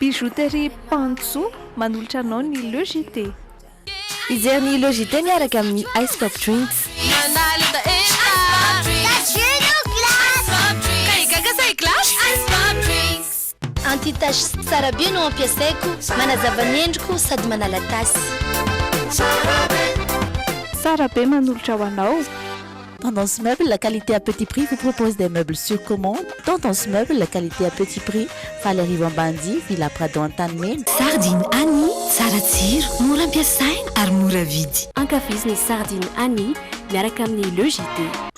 Bijouterie Pancho manolotra anao ny Le JT. Mijery ny Le JT miaraka amin'ny Ice Pop Drinks. Anti tache sy tsara be no ampiasaiko, manazava ny endriko sady manala tasy. Tsara be manolotra ho anao. Tendance Meubles, la qualité à petit prix vous propose des meubles sur commande. Tendance Meubles, la qualité à petit prix, Faly Arivo Ambanidia, Villa Prado Antanimena. Sardine Annie, tsara tsiro, mora ampiasaina ary mora vidy. Ankafizo ny Sardine Annie miaraka amin'ny Le JT.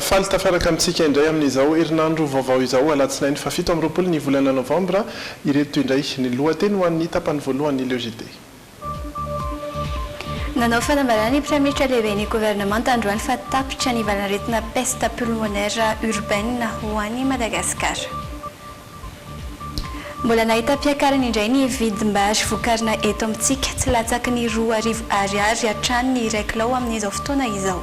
Faly tafaraka amintsika indray amin'izao herinandro vaovao izao, alatsinainy fahafito amby roapolo ny volana novambra. Ireto indray ny lohateny ho an'ny tapany voalohany Leo JT. Nanao fanambarana ny praiminisitra lehiben'ny governemanta androany fa tapitra ny valan'aretina peste pulmonaire urbaine ho an'i Madagasikara. Mbola nahita mpiakarana indray ny vidim-bary vokarina eto amintsika, tsy latsaky ny roa arivo Ariary hatrany ny iray kilao amin'izao fotoana izao.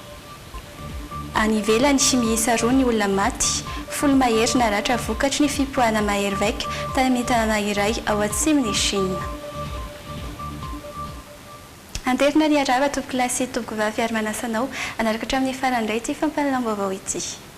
Any ivelany, miisa roa ny olona maty, folo mahery naratra vokatry ny fipoahana mahery vaika tany amin'ny tanàna iray ao atsimon'i Shina. Anterina ny harara tompokolahy sy tompokovavy ary manasa anao hanaraka hatramin'ny farany indray ity fampahalalam-baovao ity.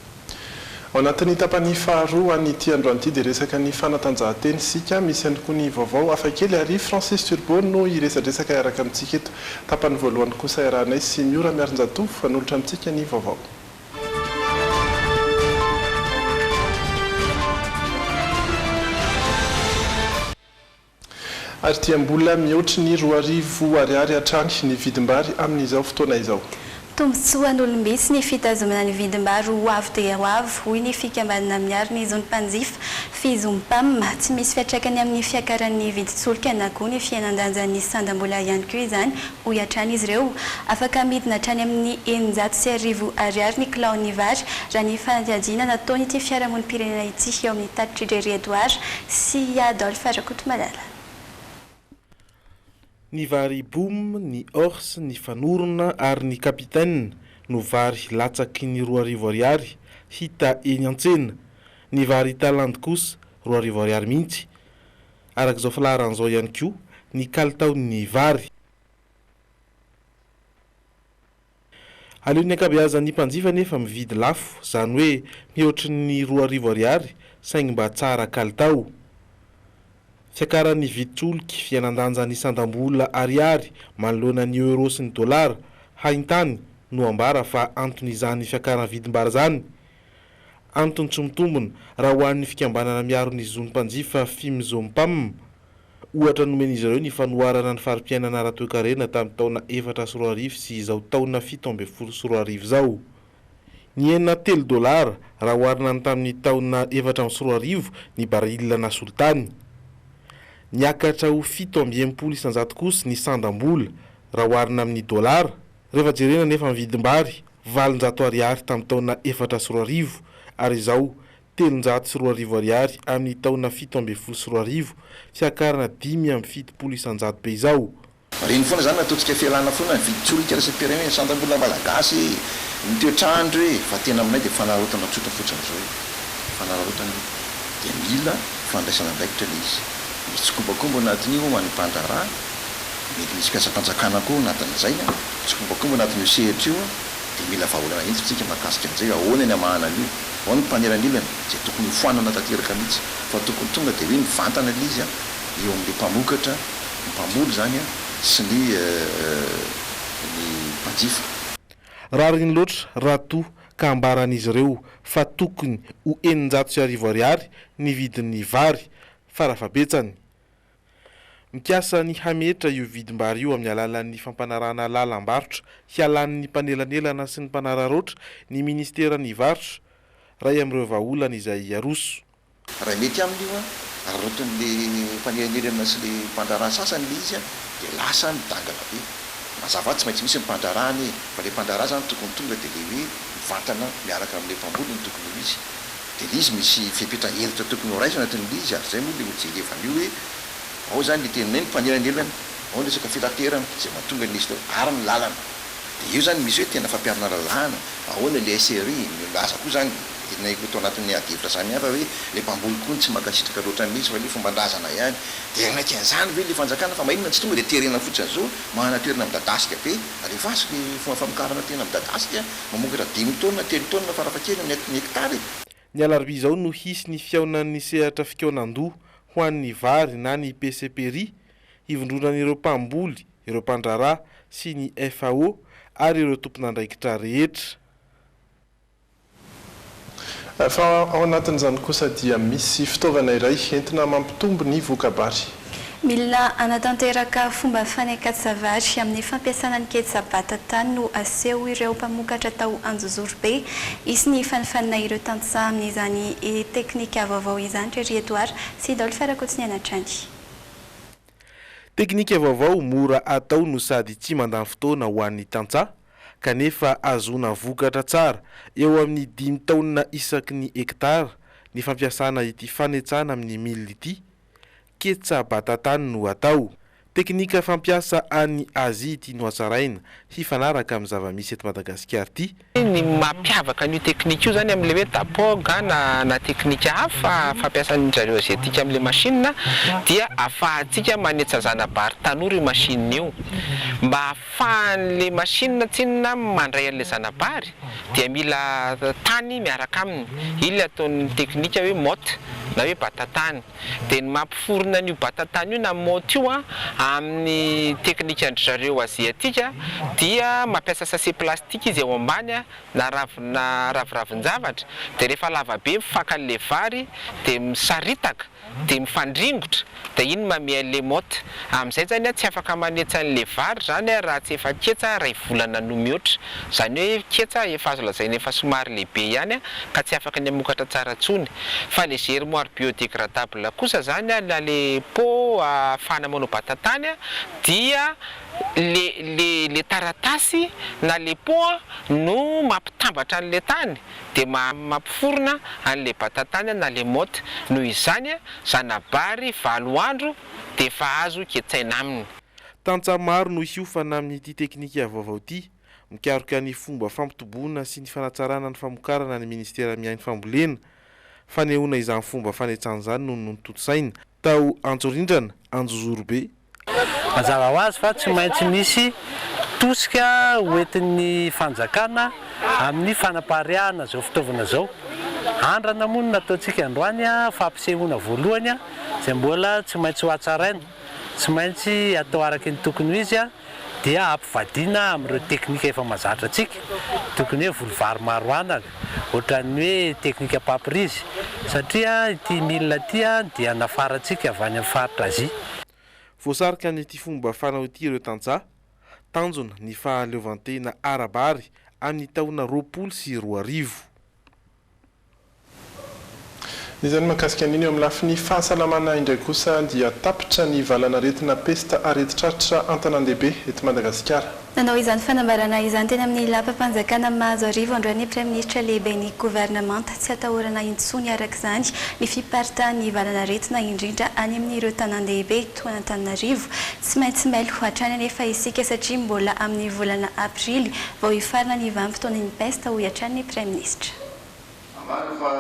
Ao anatin'ny tapany faharoa an'ity androany ity dia resaka ny fanatanjahantena isika, misy ihany koa ny vaovao hafakely ary Francis Turbo no hiresadresaka hiaraka amintsika eto. Tapany voalohany kosa iarahanay sy Miora Miarinjatovo hanolotra amintsika ny vaovao. Ary dia mbola mihoatry ny roa arivo ariary hatrany ny vidim-bary amin'izao fotoana izao. Tombontsoan'olom-bitsy ny fitazomana ny vidim-bary ho avo dia ho avo, hoy ny fikambanana miaro ny zon'ny mpanjifa, Fizompam. Tsy misy fiantraikany amin'ny fiakaran'ny vidin-tsolika na koa ny fihenan-danjan'ny sandam-bola ihany koa izany, hoy hatrany izy ireo. Afaka midina hatrany amin'ny eninjato sy arivo ariary ny kilaon'ny vary, raha ny fanadihadiana nataon'ity fiarahamonim-pirenena ity eo amin'ny tatitr'i Jerry Edouard sy i Adolphe Rakotomalala. Ny vary Boom, ny Horse, ny Fanorona ary ny Capitaine no vary latsaky ny roa arivo ariary hita eny an-tsena. Ny vary Talande kosa roa arivo ariary mihitsy. araka izao filaharana izao ihany koa ny kalitaon'ny vary. Aleon'ny ankabeazan'ny mpanjifa anefa mividy lafo, izany hoe mihoatry ny roa arivo ariary saingy mba tsara kalitao. Fiakaran'ny vidin-tsolika, fihenan-danja ny sandam-bola ariary manoloana ny euro sy ny dolara, haintany, no ambara fa anton'izany fiakaran'ny vidim-bary izany. Antony tsy mitombona, raha ho an'ny fikambanana miaro ny zon'ny mpanjifa Fimzompam. Ohatra nomen'izy ireo ny fanoharana ny fari-piainana ara-toekarena tamin'ny taona efatra sy roa arivo sy izao taona fito ambin'ny folo sy roa arivo izao. Nihena telo dolara, raha oharina ny tamin'ny taona efatra amby sy roa arivo, ny barila nasolo tany. Niakatra ho fito amby enimpolo isan-jato kosa ny sandam-bola, raha oharina amin'ny dolara. Rehefa jerena anefa ny vidim-bary, valonjato ariary tamin'ny taona efatra sy roa arivo, ary izao, telonjato sy roa arivo ariary amin'ny taona fito ambin'ny folo sy roa arivo, fiakarana dimy amby fitopolo isanjato be izao. Marihiny foana izany raha ataontsika fialana foana ny vidin-tsolika iraisam-pirenena e! Sandan'olona malagasy e! Ny toetr'andro e! Fa tena aminay dia fanararaotana tsotra fotsiny izao e! Fanararaotana e! Dia mila fandraisana andraikitra ilay izy. Misy tsikombakomba ao anatin'io ho an'ny mpandraharaha. mety misy katsa-panjakana koa ao anatin'izay an! Tsikombakomba anatin'io sehatra io an! Dia mila vahaolana hentitra isika mahakasika an'izay hoe ahoana ny hamahana an'io? Ao ny mpanelanelana, izay tokony hofoanana tanteraka mihitsy, fa tokony tonga dia hoe mivantana ilay izy an! eo amin'ilay mpamokatra, ny mpamory izany an! sy ny ny mpanjifa. Rariny loatra raha toa ka ambaran'izy ireo fa tokony ho eninjato sy arivo ariary ny vidin'ny vary fara fahabetsany. Mikasa ny hametra io vidim-bary io amin'ny alalan'ny fampanarahana lalam-barotra hialan'ny mpanelanelana sy ny mpanararaotra ny Ministeran'ny Varotra, iray amin'ireo vahaolana izay aroso. Raha mety aminy io, araraotin'ilay mpanelanelana sy ilay mpandraharaha sasany ilay izy dia lasa midangana be. Mazava tsy maintsy misy ny mpandraharaha anie fa ilay mpandraharaha izany tokony tonga dia ilay hoe mivantana miaraka amin'ilay mpamboly no tokony ho izy. Dia ilay izy misy fepetra hentitra tokony horaisina toy ny ilay izy ary izay moa ilay hojerevan'io hoe ao izany ilay teninay ny mpanelanelana, ao ny resaka fitaterana izay mahatonga an'ilay izy teo ary ny lalana. Dia eo izany misy hoe tena fampiharana lalàna, ahoana ilay SRI, milaza koa izany ilay ho tao anatin'ny adihevitra samihafa hoe ilay mpamboly koa no tsy mankasitraka loatra an'ilay izy fa ilay fomban-drazana ihany. Dia hanaiky an'izany ve ilay fanjakana fa maninona tsy tonga dia terena fotsiny izao, mahana toerana midadasika be, alefaso ilay fomba famokarana tena midadasika, Mamokatra dimy taonina, telo taonina farafahakeliny ny ny hektara e! Ny alarobia izao no hisy ny fihaonan'ny sehatra fikaonan-doha ho an'ny vary na ny PCPRI, hivondronan'ireo mpamboly, ireo mpandraharaha sy ny FAO ary ireo tompon'andraikitra rehetra. Fa ao anatin'izany kosa dia misy fitaovana iray entina mampitombo ny voka-bary. Mila hanatanteraka fomba fanekatsa-vary amin'ny fampiasana ny ketsa bata-tany no aseho ireo mpamokatra tao Anjozorobe. Hisy ny fanifanina ireo tantsaha amin'izany teknika vaovao izany ry Rietoara sy Dolph Rakotonena hatrany. Teknika vaovao mora atao no sady tsy mandany fotoana ho an'ny tantsaha. kanefa ahazoana vokatra tsara eo amin'ny dimy taonina isaky ny hekitara ny fampiasana ity fanetsana amin'ny mil ity, ketsa batatany no atao. Teknika fampiasa any Azia ity nohatsaraina hifanaraka amin'ny zava-misy eto Madagasikara ity. Ny mampiavaka an'io teknika io izany amin'ilay hoe dapog na na teknika hafa fampiasan-dry zareo Aziatika amin'ilay machine dia ahafahantsika manetsa zana-bary tanora io machine io mba Fa an'ilay machine tsinona mandray an'ilay zana-bary dia mila tany miaraka aminy, iny ilay ataon'ny teknika hoe motte na hoe bata-tany. Dia ny mampiforona an'io bata-tany io na motte io amin'ny teknikan-dry zareo aziatika dia mampiasa sachet plastique izy eo ambany na ravina raviravin-javatra dia rehefa lava be mifanka an'ilay vary dia misaritaka dia mifandringotra dia iny mamia le mot amizay zany a tsy afaka manetsa an le vary zany a raha tsy efa ketsa ray volana no mihoatra zany hoe ketsa efa azo lazaina efa somary lehibe ihany a ka tsy afaka ny hamokatra tsara tsony fa le germoire biodegradable kosa zany a na le pot ahafahana manao batatany a dia le le le taratasy na le pot a no mampitambatra an le tany dia mampiforona any le batatany na le motte noho izany zanabary valo andro dia efa azo ketsaina aminy. Tantsaha maro no hiofana amin'ity teknika vaovao ity. Mikaroka ny fomba fampitoboana sy ny fanatsarana ny famokarana ny Ministera miahy ny fambolena. Fanehoana izany fomba fanetsan izany no notontosaina. Tao Antsorindrana, Anjozorobe. Mazava ho azy fa tsy maintsy misy tosika hoentin'ny fanjakana amin'ny fanapariahana izao fitaovana izao. Andrana moa no nataontsika androany, fampisehoana voalohany izay mbola tsy maintsy hohatsaraina. Tsy maintsy atao araka ny tokony ho izy. dia hampivadiana amin'ireo teknika efa mahazatra antsika, tokony hoe voly vary maro anana, ohatran'ny hoe teknika papyrise, satria ity milina ity dia nafarantsika avy any amin'ny faritra Azia. Voasarika an'ity fomba fanao ity ireo tantsaha, tanjona ny fahaleovantena ara-bary amin'ny taona roapolo sy roa arivo. Izany mahakasika an'iny. Eo amin'ny lafiny fahasalamana indray kosa dia tapitra ny valan'aretina pesta aretin-tratra an-tanàn-dehibe eto Madagasikara. Nanao izany fanambarana izany teny amin'ny lapam-panjakana Mahazoarivo androany ny praiminisitra lehiben'ny governemanta. Tsy atahorana intsony araka izany ny fiparitahan'ny valan'aretina indrindra any amin'ireo tanàn-dehibe. toa an'Antananarivo. Tsy maintsy mailo hatrany anefa isika satria mbola amin'ny volana aprily vao hifarana ny vanim-potoanan'ny pesta, hoy hatrany ny praiminisitra. Ambara fa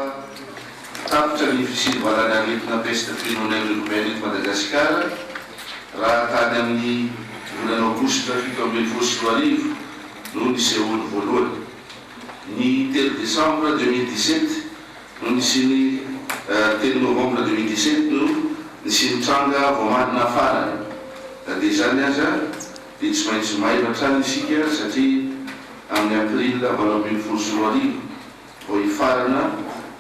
tapitra ny fisindovarana aretina peste pulmonaire urbaine eto Madagasikara raha tany amin'ny volana aogositra fito ambin'ny folo sy roa arivo no nisehoany voalohany. Ny telo desambra deux mille dix-sept, no nisiany telo novembre deux mille dix sept no nisiany tranga voamadina farany na dia izany aza dia tsy maintsy mailo hatrany isika satria amin'ny april valo ambin'ny folo sy roa arivo vao hifarana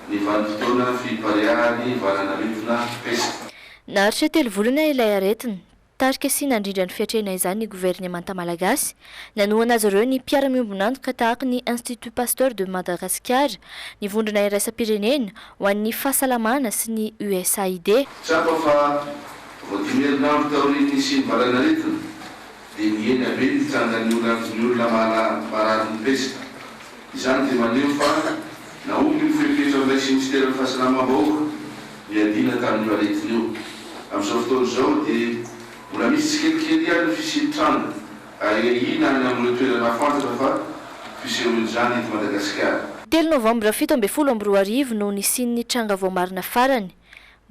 ny vanim-potoana fipariahan'ny valan'arivona pesta. Naharitra telo volana ilay aretina. Tarika sy nandrindra ny fiatrehana izany ny governemanta malagasy. Nanohana azy ireo ny mpiara-miombon'antoka tahaka ny Institut Pasteur de Madagascar, ny Vondrona Iraisam-pirenena ho an'ny Fahasalamana sy ny USAID. Tsapa fa vao dimy herinandro taorian'ny nisian'ny valanaretina dia nihena be ny fitsangan'ny olavin'ny olona marary ny pesta. Izany dia maneho fa nahomby ny fepetra noraisin'ny Minisiteran'ny Fahasalamam-bahoaka niadiana tamin'io aretina io. Amin'izao fotoana izao dia mbola misy tsikelikely ihany ny fisian'ny tranga ahiahiana any amin'ireo toerana hafantatra fa fisehoan'izany eto Madagasikara. Telo novambra fito ambin'ny folo amby roa arivo no nisian'ny tranga voamarina farany.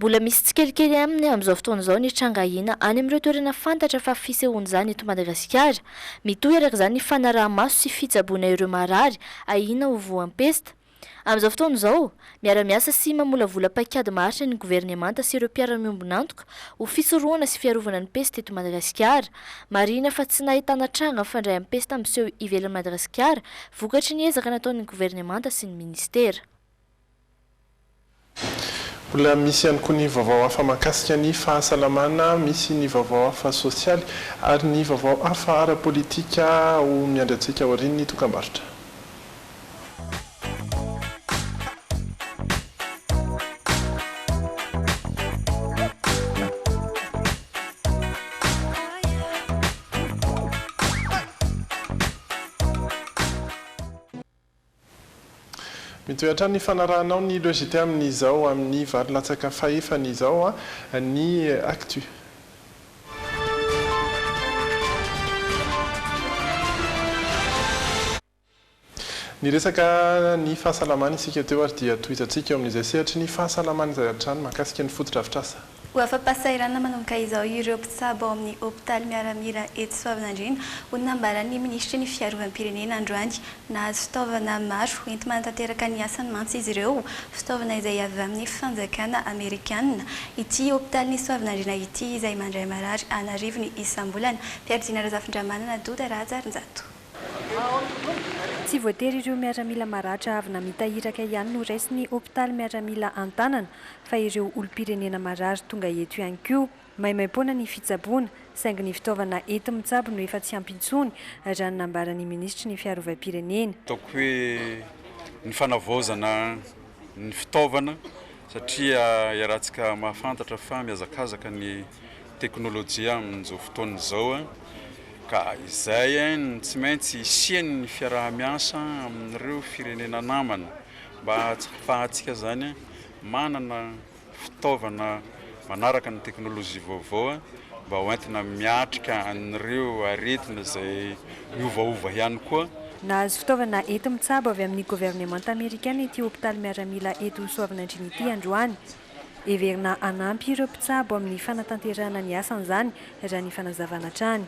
Mbola misy tsikelikely aminy amin'izao fotoana izao ny tranga ahiana any amin'ireo toerana fantatra fa fisehoan'izany eto Madagasikara. Mitohy araka izany ny fanaraha-maso sy fitsaboana ireo marary ahiana ho voampesta. Amin'izao fotoana izao, miara-miasa sy mamolavola paikady maharitra ny governemanta sy ireo mpiara-miombon'antoka ho fisorohana sy fiarovana ny pesta eto Madagasikara. Marihina fa tsy nahitana tranga mifandray amin'ny pesta miseho ivelan'i Madagasikara vokatry ny ezaka nataon'ny governemanta sy ny minisitera. Mbola misy ihany koa ny vaovao hafa mahakasika ny fahasalamana, misy ny vaovao hafa sosialy ary ny vaovao hafa ara-politika ho miandry antsika aorian'ny dokambarotra. Mitohy hatrany ny fanarahanao ny logite amin'izao amin'ny valo latsaka fahefany izao ny Actu. Niresaka ny fahasalamana isika teo ary dia tohizantsika eo amin'izay sehatry ny fahasalamana izay hatrany mahakasika ny fotodrafitrasa. Ho afa-pahasahiranana manomboka izao ireo mpitsabo ao amin'ny hopitaly miaramila eto Soavinandriana, hoy ny nambaran'ny minisitry ny Fiarovam-pirenena androany. Nahazo fitaovana maro enti-manatanteraka ny asany mantsy izy ireo, fitaovana izay avy amin'ny fanjakana amerikanina. Ity hopitalin'i Soavinandriana ity izay mandray marary an'arivony isam-bolana, mpiadiana Razafindramanana Doda Rahajarinjato. Tsy voatery ireo miaramila maratra avy namita iraka ihany no raisin'ny hopitaly miaramila an-tanana fa ireo olom-pirenena marary tonga eto ihany koa. Maimaimpoana ny fitsaboana, saingy ny fitaovana enti-mitsabo no efa tsy ampy intsony, raha ny nambaran'ny minisitry ny Fiarovam-pirenena. Ataoko hoe ny fanavaozana ny fitaovana satria iarahantsika mahafantatra fa mihazakazaka ny teknolojia amin'izao fotoana izao ka izay no tsy maintsy hisian'ny fiaraha-miasa amin'ireo firenena namana mba hahafahantsika izany manana fitaovana manaraka ny teknolojia vaovao mba ho entina miatrika an'ireo aretina izay miovaova ihany koa. Nahazo fitaovana enti-mitsabo avy amin'ny governemanta amerikana ity hopitaly miaramila eto Soavinandriana ity androany. Heverina hanampy ireo mpitsabo amin'ny fanatanterahana ny asany izany, raha ny fanazavana hatrany.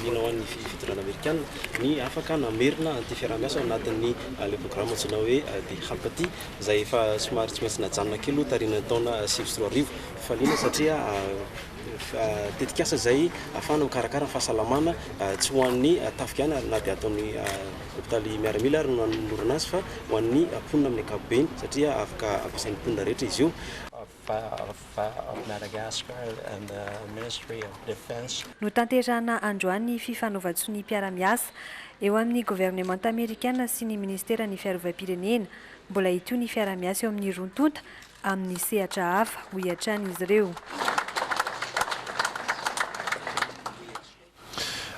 Liana ho an'ny fitondrana Amerikana ny afaka namerina an'ity fiaraha-miasa ao anatin'ny ilay programa antsoina hoe The Hapati, izay efa somary tsy maintsy najanona kely aloha taorian'ny taona sivy sy roa arivo. Faliana satria tetikasa izay ahafahana mikarakara ny fahasalamana, tsy ho an'ny tafika ihany na dia ato amin'ny hopitaly miaramila ary no nanolorana azy fa ho an'ny mponina amin'ny ankapobeny, satria afaka ampiasain'ny mponina rehetra izy io. Notanterahina androany ny fifanaovan-tsonia mpiara-miasa eo amin'ny governemanta amerikana sy ny minisiteran'ny fiarovam-pirenena. Mbola hitohy ny fiaraha-miasa eo amin'ny roa tonta amin'ny sehatra hafa, hoy hatrany izy ireo.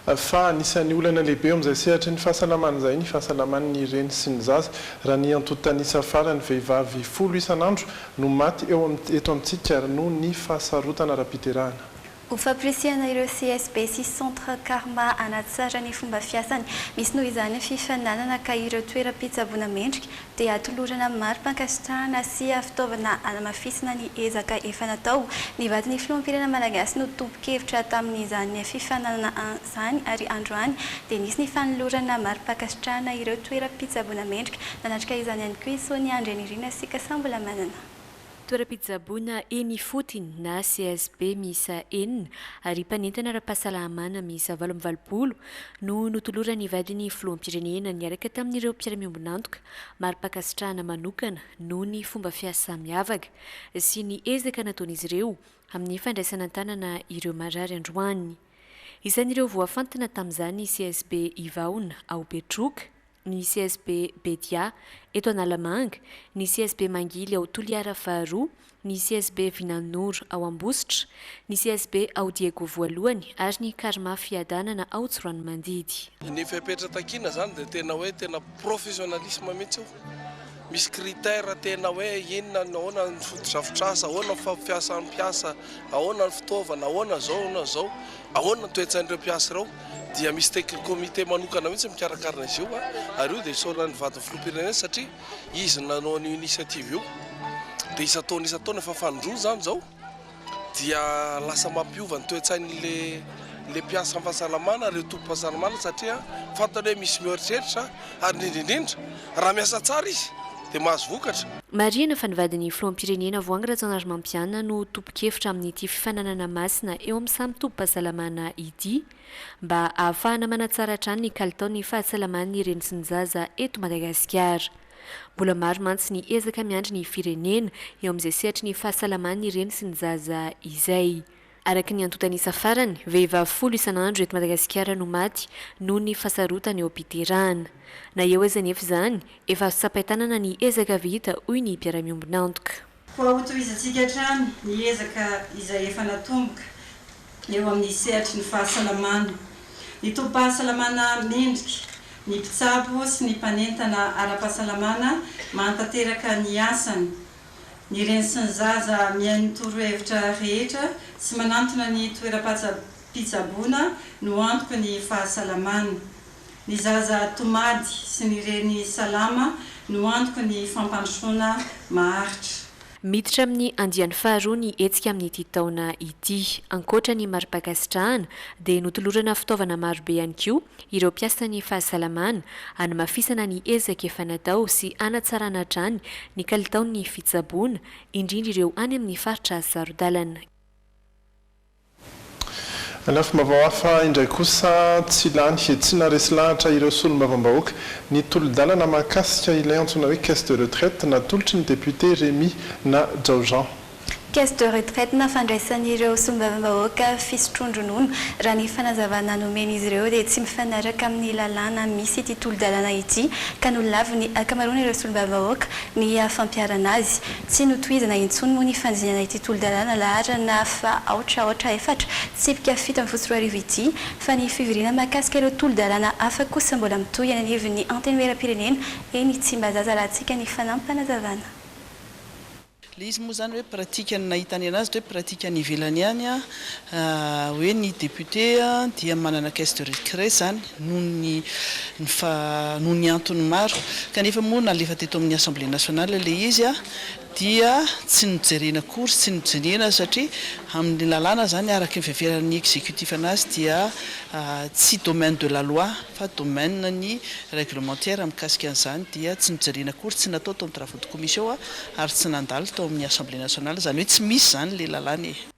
Fa anisan'ny olana lehibe eo amin'izay sehatry ny fahasalamana izay ny fahasalaman'ny reny sy ny zaza. Raha ny antontan'isa farany, vehivavy folo isan'andro no maty eo amin'ny eto amintsika ary noho ny fahasarotana ara-piterahana. Ho fampirisihana ireo CSB sy Centre Karma hanatsara ny fomba fiasany, misy noho izany ny fifaninanana ka ireo toeram-pitsaboana mendrika dia atolorana amin'ny mari-pankasitrahana sy fitaovana hanamafisana ny ezaka efa natao. Ny vadin'ny filoham-pirenena malagasy no tompon-kevitra tamin'izany fifaninanana izany ary androany dia nisy ny fanolorana mari-pankasitrahana ireo toeram-pitsaboana mendrika. Nanatrika izany ihany koa i Sonia Andrianirina sy Kasam-bolamanana. Toeram-pitsaboana eny ifotiny na CSB miisa enina ary mpanentana ara-pahasalamana miisa valo amby valopolo no notoloran'ny vadin'ny filoham-pirenena niaraka tamin'ireo mpiara-miombon'antoka mari-pankasitrahana manokana noho ny fomba fiasa miavaka sy ny ezaka nataon'izy ireo amin'ny fandraisana an-tanana ireo marary androany. Isan'ireo voafantina tamin'izany CSB Ivahona ao Betroka. ny CSB Bedia eto Analamanga, ny CSB Mangily ao Toliara faharoa, ny CSB Vinanoro ao Ambositra, ny CSB ao Diego voalohany ary ny Karma Fiadanana ao Tsiroanomandidy. Ny fepetra takiana izany dia tena hoe tena professionnalisme mihitsy io. Misy critère tena hoe inona no ahoana ny fotodrafitrasa, ahoana ny fampiasan'ny mpiasa, ahoana ny fitaovana, ahoana izao, ahoana izao, ahoana ny toe-tsain'ireo mpiasa ireo dia misy tec- comité manokana mihitsy mikarakara azy io ary io dia isaoran'ny vadin'ny filoham-pirenena satria izy no nanao an'io initiative io dia isan-taona isan-taona efa fanindroany izany izao. dia lasa mampiova ny toe-tsain'le le mpiasa am fahasalamana ireo tompom-pahasalamana satria fantany hoe misy mihoeritreritra ary indrindra indrindra raha miasa tsara izy dia mahazo vokatra. Marihina fa ny vadin'ny filoham-pirenena Voahangy Rajaonarimampianina no tompon-kevitra amin'ity fifaninanana masina eo amin'ny samy tobim-pahasalamana ity mba ahafahana manatsara hatrany ny kalitaon'ny fahasalaman'ny reny sy ny zaza eto Madagasikara. Mbola maro mantsy ny ezaka miandry ny firenena eo amin'izay sehatry ny fahasalaman'ny reny sy ny zaza izay. Araka ny antontan'isa farany, vehivavy folo isan'andro eto Madagasikara no maty noho ny fahasarotana eo am-piterahana. Na eo aza anefa izany, efa azo tsapain-tanana ny ezaka vita, hoy ny mpiara-miombon'antoka. Koa hotohizantsika hatrany ny ezaka izay efa natomboka eo amin'ny sehatry ny fahasalamana. Ny tobim-pahasalamana mendrika, ny mpitsabo sy ny mpanentana ara-pahasalamana mahatanteraka ny asany, ny reny sy ny zaza mihaino torohevitra rehetra sy manantona ny toeram-pitsaboana no antoky ny fahasalamana. Ny zaza tomady sy ny reny salama no antoky ny fampandrosoana maharitra. Miditra amin'ny andiany faharoa ny hetsika amin'ity taona ity. Ankoatra ny mari-pankasitrahana dia notolorana fitaovana marobe ihany koa ireo mpiasan'ny fahasalamana hanamafisana ny ezaka efa natao sy hanatsarana hatrany ny kalitaon'ny fitsaboana, indrindra ireo any amin'ny faritra saro-dalana. Lafim-baovao hafa indray kosa, tsy lany he tsy naharesy lahatra ireo solombavambahoaka ny tolo-dalana mahakasika ilay antsoina hoe caisse de retraite natolotry ny député Rémy na Jao Jean. Caisse de retraite nafandraisan'ireo solombavambahoaka fisotroan-dronono, raha ny fanazavana nomen'izy ireo dia tsy mifanaraka amin'ny lalàna misy ity tolo-dalana ity ka nolaviny ankamaroan'ireo solombavambahoaka ny fampiharana azy. Tsy notohizana intsony moa ny fandinana ity tolo-dalàna laharana faha aotra aotra efatra, tsipika fito ambin'ny folo sy roa arivo ity, fa ny fivoriana mahakasika ireo tolo-dalàna hafa kosa mbola mitohy eny anivon'ny Antenimieram-pirenena eny Tsimbazaza raha hitsika ny fanam-panazavana. Le izy moa zany hoe pratique ny nahitany anazy ndray pratique any ivelany any an. hoe ny député dia manana caisse de récré izany noho ny noho ny antony maro kanefa moa nalefa teto amin'ny Assemblée nationale ilay izy dia tsy nojerena akory sy tsy nojenena satria amin'ny lalàna izany araka ny fiheveran'ny exécutif anazy dia tsy domaine de la loi fa domaine ny réglementaire mikasika an'izany dia tsy nojerena akory tsy natao tao amin'ny travaux de commission ary tsy nandalo tao amin'ny Assemblée nationale izany hoe tsy misy izany ilay lalàna e.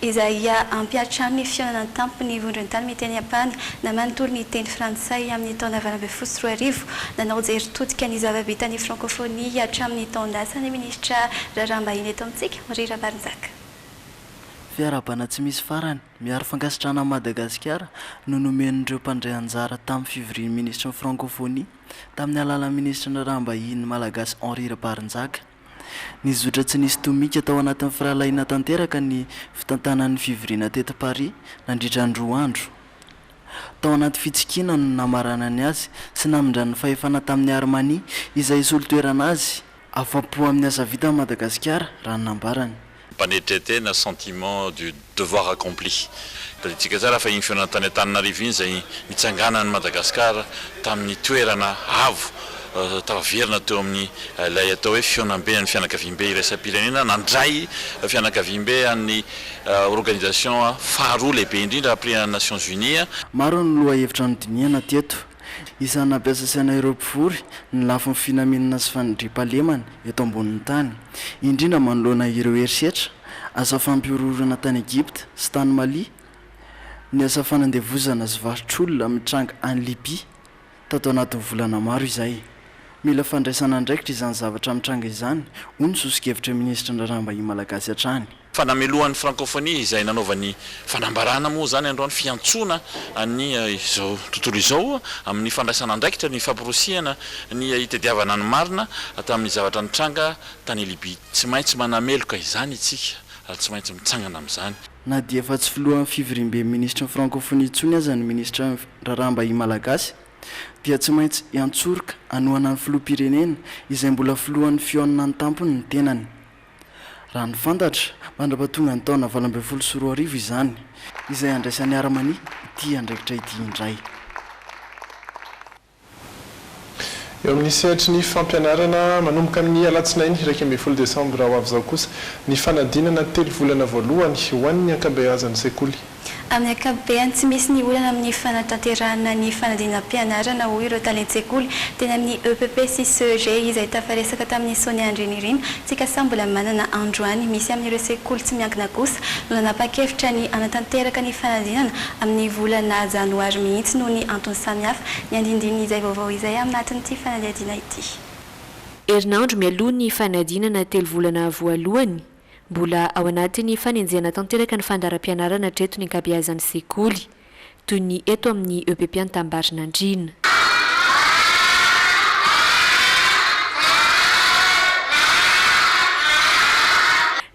izay ampy hatramin'ny fihaonana an-tampon'ny vondron-tany miteny Japana na manontolo miteny Frantsay amin'ny taona valo ambin'ny folo sy roa arivo. Nanao jery todika ny zava-bitan'ny frankofonia hatramin'ny taon-dasa ny minisitra raharaham-bahiny eto amintsika, Henri Rabarinjaka. Fiarahabana tsy misy farany, miaro fankasitrahana an'i Madagasikara no nomen'ireo mpandray anjara tamin'ny fivorian'ny minisitry ny frankofonia, tamin'ny alalan'ny minisitry ny raharaham-bahiny malagasy Henri Rabarinjaka. Nizotra tsy nisy tomika tao anatin'ny firahalahiana tanteraka ny fitantanan'ny fivoriana teto Paris nandritra ny roa andro. Tao anaty fitsikiana no namaranany azy sy namindrany ny fahefana tamin'i Armani izay hisolo toerana azy. Afa-po amin'ny asa vitan'i Madagasikara, raha ny nambarany. Mpanetritena, sentiment du devoir accompli. Tadidintsika tsara fa iny fihaonana tany Antananarivo iny izay nitsanganan'i Madagasikara tamin'ny toerana avo tafaverina teo amin'ny ilay atao hoe fihaonambe an'ny fianakaviambe iraisam-pirenena nandray fianakaviambe an'ny organisation faharoa lehibe indrindra après an'ny Nations Unies. Maro ny lohahevitra nodinihana teto. Isan'ny nampiasa saina ireo mpivory ny lafiny finaminana sy fanindriam-pahalemana eto ambonin'ny tany, indrindra manoloana ireo herisetra asa fampihorohoroana tany Egypta sy tany Mali, ny asa fanandevozana sy varotr'olona mitranga any Libya tato anatin'ny volana maro izay. Mila fandraisana andraikitra izany zavatra mitranga izany, hoy ny sosokevitry ny minisitry ny Raharaham-bahiny malagasy hatrany. Fa namelohan'ny Frankôfônia izay nanaovany fanambarana moa izany androany fiantsoana an'ny izao tontolo izao amin'ny fandraisana andraikitra ny famporisihana ny hitadiavana ny marina tamin'ny zavatra nitranga tany Libia. Tsy maintsy manameloka izany isika ary tsy maintsy mitsangana amin'izany. Na dia efa tsy filohan'ny fivoriamben'ny minisitry ny Frankôfônia intsony aza ny minisitra raharaham-bahiny malagasy dia tsy maintsy hiantsoroka hanohana ny filoham-pirenena izay mbola filohan'ny fihaonana an-tampony ny tenany. Raha ny fantatra, mandra-pahatonga ny taona valo ambin'ny folo sy roa arivo izany, izay handraisan'ny Harmonie ity andraikitra ity indray. Eo amin'ny sehatry ny fampianarana, manomboka amin'ny alatsinainy iraika ambin'ny folo desambra ho avy izao kosa ny fanadinana telo volana voalohany ho an'ny ankabeazan'ny sekoly. Amin'ny ankapobeny, tsy misy ny olana amin'ny fanatanterahana ny fanadinam-pianarana, hoy ireo talen-tsekoly. Teny amin'ny epp sy CEG izay tafaresaka tamin'ny Sonia Andrianirina, Tsikasa mbola manana androany misy amin'ireo sekoly tsy miankina kosa no nanapa-kevitra ny hanatanteraka ny fanadinana amin'ny volana janoary mihitsy noho ny antony samihafa ny andindinin'izay vaovao izay amnatin'ity fanadihadiana ity. Herinandro mialoha ny fanadinana telo volana voalohany, Mbola ao anatin'ny fanenjehana tanteraka ny fandaharam-pianarana hatreto ny ankabeazan'ny sekoly, toy ny eto amin'ny EPP Antambarinandriana.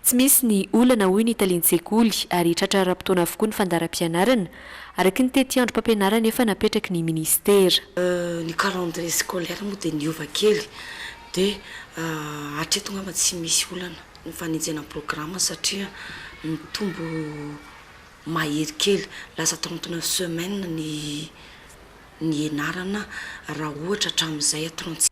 Tsy misy ny olana hoy ny talen-tsekoly ary tratra ara-potoana avokoa ny fandaharam-pianarana, araka ny tetiandrom-pampianarana efa napetraky ny minisitera. Ny calendrier scolaire moa dia niova kely Dia hatreto angamba tsy misy olana ny fanenjehana ny programa satria mitombo mahery kely, lasa trente neuf semaines ny nianarana raha ohatra hatramin'izay trente six.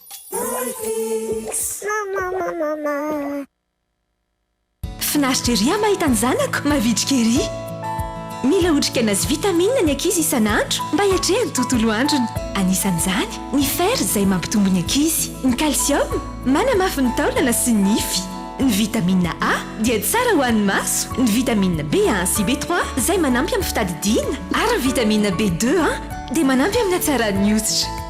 Finaritra ery aho mahita ny zanako mavitrika ery! Mila otrikaina sy vitamine ny ankizy isan'andro mba hiatrehany tontolo androny. Anisan'izany ny fer izay mampitombo ny ankizy, ny calcium manamafy ny taolana sy ny nify, ny vitamine A dia tsara ho an'ny maso, ny vitamine B un sy B trois izay manampy amin'ny fitadidiana ary ny vitamine B deux un dia manampy amin'ny hatsaran'ny hoditra.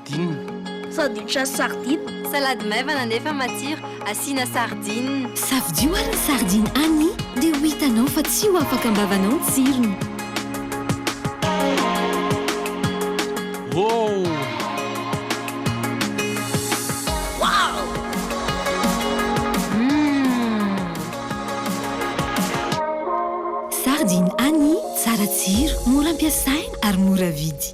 Sardine. Sandwich à sardine. Salady maivana nefa matsiro asiana sardine. Safidio ary ny sardine Annie dia ho hitanao fa tsy ho afaka am-bavanao ny tsirony. Woow! Sardine Annie, tsara tsiro, mora ampiasaina ary mora vidy.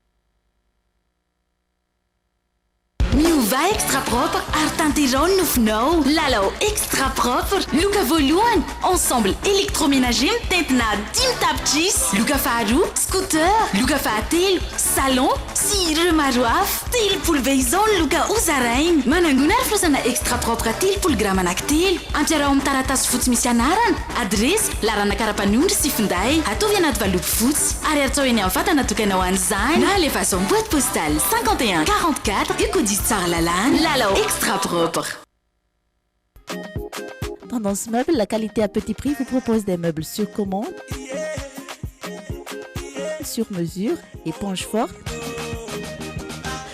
Miovà Extra Propre ary tanterao ny nofinao! Lalao Extra Propre, loka voalohany, ensemble électroménager mitentina dimy tapitrisa, loka faharoa, scooter, loka fahatelo, salon, sy ireo maro hafa. Telopolo be izao ny loka hozaraina. Manangona ary fonosana Extra Propre telopolo grama anaky telo. Ampiaraho amin'ny taratasy fotsy misy anarana. Adiresy, laharanaka ara-panondro sy finday, ataovy anaty valopy fotsy, ary artsaho eny amin'ny vata natokana ho an'izany, na alefaso amin'ny boite postale 51 44 Uko Diso Tsara Lalàna, Lalao Extra Propre. Tendance Meubles, la qualité à petit prix vous propose des meubles sur commande, sur mesure, éponge forte,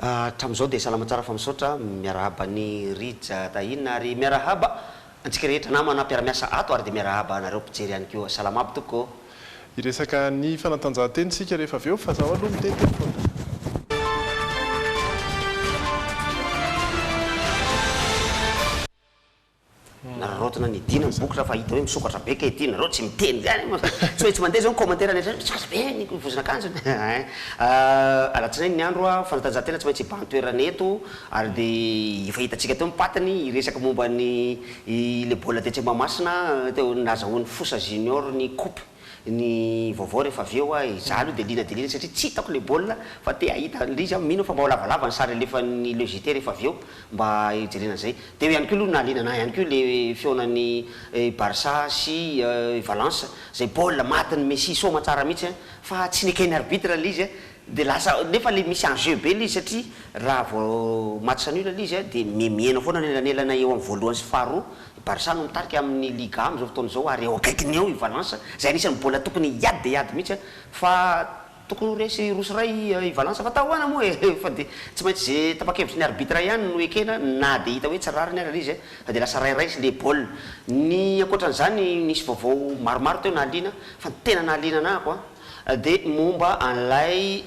Hatramin'izao dia salama tsara fa misaotra miarahaba an'i Rija Tahina ary miarahaba antsika rehetra namana mpiara-miasa ato ary dia miarahaba anareo mpijery ihany koa. Salama aby tompoko ô! Hiresaka ny fanatanjahantena isika rehefa avy eo fa zaho aloha miteny teny foana. Nararaotina ny Dina ny boky rafa hita hoe misokatra be kay ty nareo tsy miteny zany moa zany tsy maintsy mandeha zao ny commentaire rehetra hoe misokatra be ny vozon'akanjony hein ahh alatsinainy ny andro ah fanatanjahantena tsy maintsy hibahan-toerana eto ary de efa hitantsika teo ny patiny hiresaka momba ny i le baolina tetsy Mahamasina teo nahazahoan'ny Fosa Junior ny coupe ny vaovao rehefa avy eo aho e, za aloha dia liana dia liana satria tsy hitako ilay baolina fa te hahita an'ilay izy aho, mino aho fa mba ho lavalava ny sary alefan'ny le JT rehefa avy eo mba hijerena an'izay. Teo ihany koa aloha no nahaliana an'ahy ihany koa ilay fihaonan'i Barça sy Valence, izay baolina matin'i Messi soma tsara mihitsy fa tsy nekain'ny arbitre ilay izy, Dia lasa, nefa ilay misy enjeu be ilay izy satria raha vao match nul ilay izy an, dia mihemihena foana ny elanelana eo amin'ny voalohany sy faharoa, i Barça no mitarika amin'ny Liga amin'izao fotoana izao ary eo akaikiny eo i Valence, izay anisan'ny mbola tokony hiady dia hiady mihitsy an, fa tokony ho resy roa sy iray i Valence, fa tahoana moa e, fa dia tsy maintsy izay tapa-kevitry ny arbitre ihany no ekena na dia hita hoe tsy rariny ary ilay izy an, fa dia lasa rairaisin' ilay baolina. Ny ankoatran'izany, nisy vaovao maromaro teo nahaliana an, fa ny tena nahaliana anahako an, Dia momba an'ilay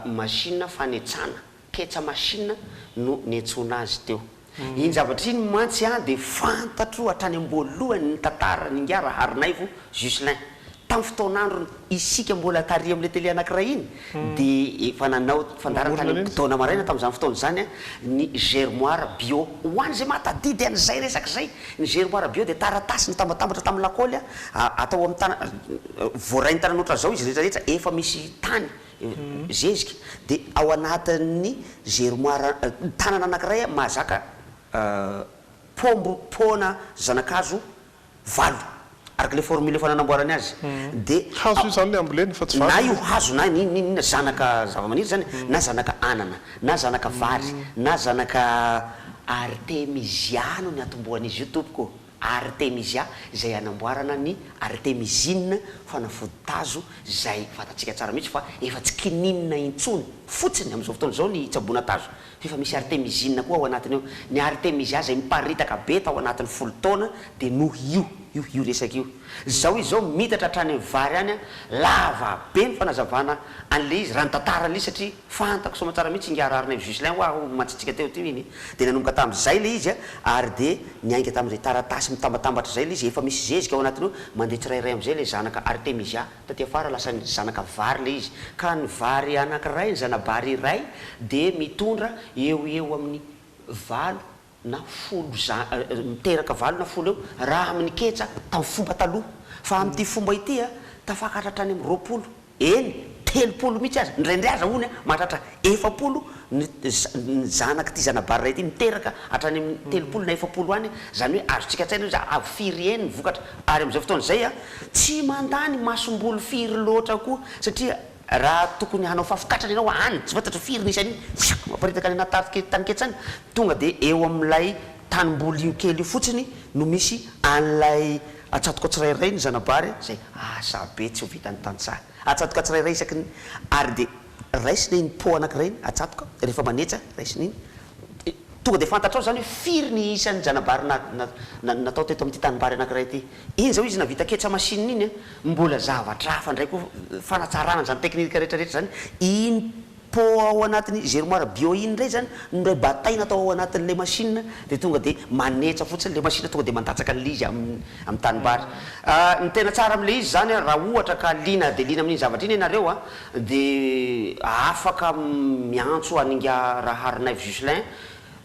machine fanetsana, ketsa machine no niantsoana azy teo. Iny zavatra iny mantsy an dia fantatro hatrany am-boalohany ny tantaran'i Ingahy Raharinaivo Jucelin. Tamin'ny fotoan'androny isika mbola tary amin'ilay tele anankiray iny dia efa nanao fandaharan-tany taona maraina tamin'izany fotoana izany an, ny Germoire Bio. Ho an'izay mahatadidy an'izay resaka izay Ny Germoire Bio dia taratasy nitambatambatra tamin'ny lakaoly atao amin'ny tanana, voaray ny tanana ohatran'izao izy rehetra rehetra efa misy tany zezika dia ao anatin'ny germoire tanana anankiray mahazaka paombo, poana, zanakazo valo. Araka ilay formule efa nanamboarany azy dia. Hazo io izany ilay ambolena fa tsy vary. Na io hazo na inona na inona zanaka zavamaniry izany na zanaka anana na zanaka vary na zanaka. Artemisia no niatombohan'izy io tompoko ô! Artemisia izay anamboarana ny artemisine, fanafody tazo izay fantatsika tsara mihitsy fa efa tsy kininina intsony fotsiny amin'izao fotoana izao ny hitsaboana tazo Efa misy artemizina koa ao anatiny ao. Ny artemisia izay miparitaka be tao anatin'ny folo taona dia noho io io io resaka io. Izao izy izao miitatra hatrany amin'ny vary any an, lava be ny fanazavana an'ilay izy raha ny tantaran'ilay izy satria fantako soa aman-tsara mihitsy ingahy Raharinaivo Juslin hoa ho mantsitsika teo teo iny dia nanomboka tamin'izay ilay izy ary dia niainga tamin'izay taratasy mitambatambatra izay ilay izy efa misy zezika ao anatiny ao mandeha tsirairay amin'izay ilay zanaka artemisia Taty afara lasan'ny zanaka vary ilay izy, ka ny vary anankiray, ny zana-bary iray dia mitondra eo ho eo amin'ny valo na folo za, miteraka valo na folo eo raha amin'ny ketsa tamin'ny fomba taloha. Fa amin'ity fomba ity, tafakatra hatrany amin'ny roapolo, eny, telopolo mihitsy aza, indraindray aza hono mahatratra Efapolo ny ny zanak'ity zana-bary iray ity miteraka hatrany amin'ny telopolo na efapolo any, izany hoe azontsika an-tsaina hoe za avy firy yen ny vokatra. Ary amin'izao fotoana izay a, tsy mandany masomboly firy loatra koa satria raha tokony hanao fafikatrana ianao any, tsy fantatro firy ny isan'iny, fiapp, maparitaka any anaty tafo tany ketsany, tonga dia eo amin'ilay tanimboly io kely io fotsiny no misy an'ilay atsatoka tsirairay ny zana-bary izay asa be tsy ho vitan'ny tantsaha. Atsatoka tsirairay isaky ny ary dia. Raisina iny pot anankiray iny atsatoka rehefa manetsa, raisina iny de tonga de fantatrao zany hoe firy ny isan'ny zana-bary na na na natao teto amin'ity tanimbary anankiray ity. Iny zao izy navita ketsa machine iny a, mbola zavatra hafa ndray koa fanatsarana zany technique rehetra rehetra zany, iny pot ao anatin'ny germoire bio iny ndray zany no ndray bataina atao ao anatin'ilay machine de tonga de manetsa fotsiny le machine tonga de mandatsaka an'ilay izy am am tanimbary. Ny tena tsara amin'ilay izy zany a, raha ohatra ka liana dia liana amin'iny zavatra iny ianareo a, dia afaka miantso an'ingahy Raharinaivo Juslin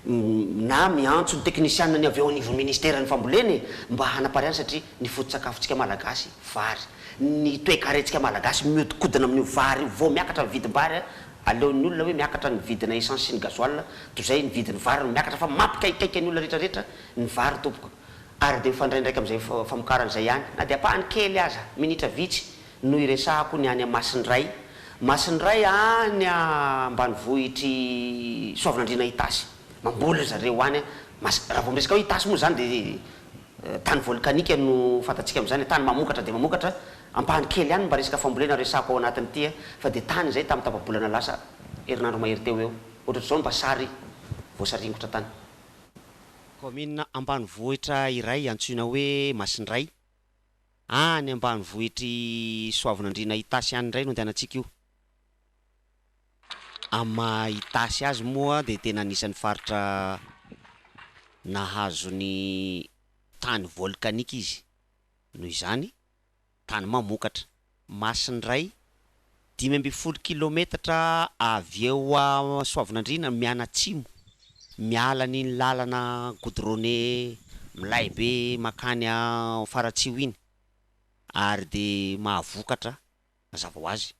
na miantso ny teknisianina ny avy ao anivon'ny ministeran'ny fambolena e, mba hanapariahana satria ny foto-tsakafontsika malagasy vary, ny toekarentsika malagasy mihodinkodina amin'io vary io, vao miakatra ny vidim-bary a, aleon'ny olona hoe miakatra ny vidina essence sy ny gasoil, toy izay ny vidin'ny vary no miakatra fa mampikaikaika ny olona rehetra rehetra ny vary tompoko, ary dia mifandray ndraika amin'izay famokarana izay ihany na dia ampahany kely aza, minitra vitsy. no iresahako ny any Masindray Masindray any ambanivohitr'i Soavinandriana Itasy mamboly ry zareo any a Mas raha vao miresaka hoe Itasy moa izany dia tany volkanika no fantatsika amin'izany tany mamokatra dia mamokatra ampahany kely ihany mba resaka fambolena resahako ao anatin'ity a fa dia tany izay tamin'ny tapa-bolana lasa herinandro mahery teo eo ohatratr'izao ny mba sary voasaringotra tany kaominina ambanivohitra iray antsoina hoe Masindray. Ah any ambanivohitr'i Soavinandriana Itasy any indray no andehanantsika io. Amin'ny maha Itasy azy moa dia tena anisan'ny faritra nahazo ny tany volkanika izy. Noho izany, tany mamokatra. Masindray, dimy ambin'ny folo kilaometatra avy eo Soavinandriana mianatsimo, miala an'iny lalana goudronné milay be makany Faratsiho iny ary dia mahavokatra mazava ho azy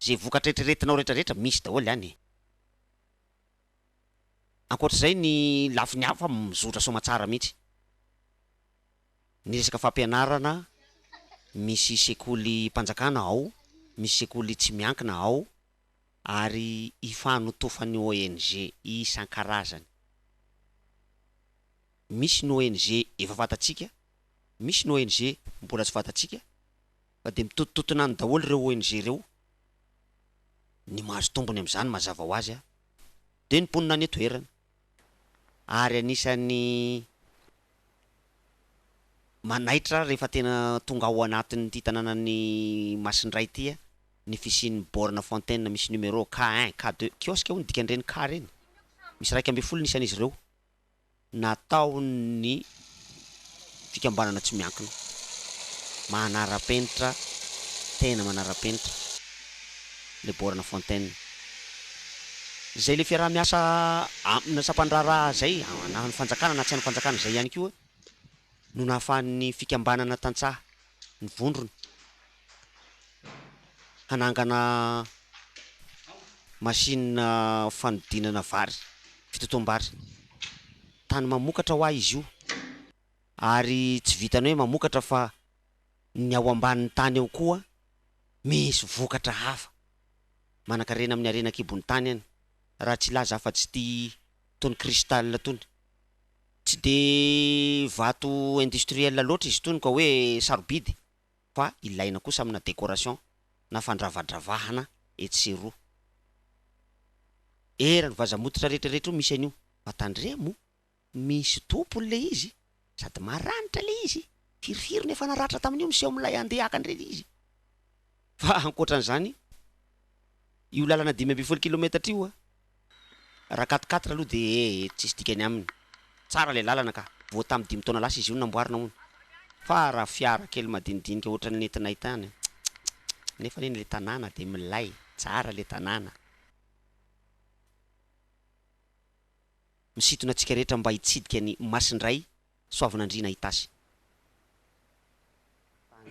izay vokatra eritreretinao rehetra rehetra misy daholo any e! Ankoatr'izay ny lafiny hafa mizotra soamatsara mihitsy. Ny resaka fampianarana, misy sekolim-panjakana ao, misy sekoly tsy miankina ao ary ifanotofany ONG isan-karazany. Misy ny ONG efa fantatsika, misy ny ONG mbola tsy fantatsika fa dia mitotototona any daholo ireo ONG ireo. Ny mahazo tombony amin'izany mazava ho azy dia ny mponina any an-toerana. ary anisan'ny manaitra rehefa tena tonga ao anatin'ity tanànan'i Masindray ity ny fisian'ny borne fontaine misy numéro K un, K deux, kiosque hono dikan'ireny K ireny, misy iraika ambin'ny folo ny isan'izy ireo, nataon'ny fikambanana tsy miankina manara-penitra tena manara-penitra le Borne Fontaine zay le fiaraha-miasa amina sampandraharaha zay na ny fanjakana na tsy any fanjakana zay ihany koa no nahafahan'ny fikambanana tantsaha ny vondrona hanangana machine fanodinana vary fitotoam-bary Tany mamokatra hoa izy io. Ary tsy vitan'ny hoe mamokatra fa ny ao ambanin'ny tany ao koa misy vokatra hafa. Manankarena amin'ny harena an-kibon'ny tany any, raha tsy hilaza afa-tsy ity tony cristal tony. Tsy dia vato industriel loatra izy itony ka hoe sarobidy. fa ilaina kosa amina décoration na fandravadravahana etsy sy eroa. Era ny vaza mototra rehetra rehetra io misy an'io fa tandremo misy tompony le izy sady maranitra le izy firifiry no efa naratra tamin'io miseho milay andeha haka an'ireny izy fa ankoatran'izany io lalana dimy ambin'ny folo kilometatra io a Raha quatre quatre aloha dia ee tsisy dikany aminy. Tsara ilay lalana ka. Vao tamin'ny dimy taona lasa izy io no namboarina hono. Fa raha fiara kely madinidinika ohatran'ny nentinay tany an. Tsikikikikik. Nefa anie ilay tanàna dia milay. Tsara ilay tanàna. Misintona antsika rehetra mba hitsidika ny Masindray Soavinandriana Itasy.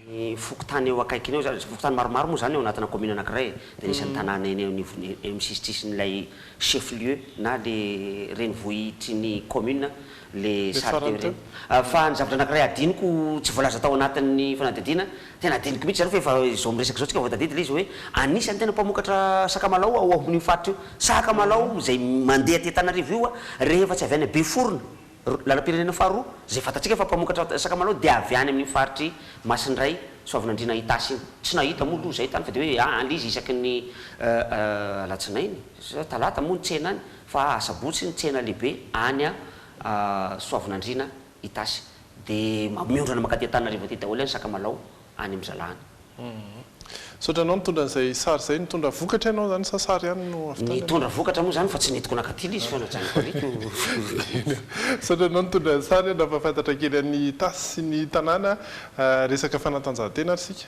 Ny fokontany eo akaikiny eo izany, fokontany maromaro moa izany ao anatina commune anankiray e, dia nisy an-tanàna eny anivon'ny, eny amin'ny sisintsisin'ilay chef lieu na ilay renivohitrin'ny commune ilay sary teo ireny. Fa ny zavatra anankiray hadinoko tsy voalaza tao anatin'ny fanadihadiana, tena hadinoko mihitsy izany fa efa izao miresaka izao isika vao tadidy ilay izy hoe anisan'ny tena mpamokatra sakamalao ao amin'io faritra io, sakamalao izay mandeha aty Antananarivo io rehefa tsy avy any Beforona. Lalam-pirenena faharoa izay fantatsika fa mpamokatra sakamalao dia avy any amin'iny faritr'i Masindray Soavinandriana Itasy iny. Tsy nahita moa aloha izahay tany fa dia hoe any ilay izy isaky ny alatsinainy sa talata moa ny tsena any fa asabotsy ny tsena lehibe any Soavinandriana Itasy. Dia miondrana mankaty Antananarivo aty daholo any sakamalao. any amin'ny zalany. Misaotra anao nitondra an'izay sary izay. Nitondra vokatra ianao izany sa sary ihany no avy tany aminao? Nitondra vokatra moa izany fa tsy nentiko nankaty ilay izy fa najanoko ary ko. Misaotra anao nitondra ny sary a, nampahafantatra kely an'i Itasy sy ny tanàna resaka fanatanjahantena ary isika.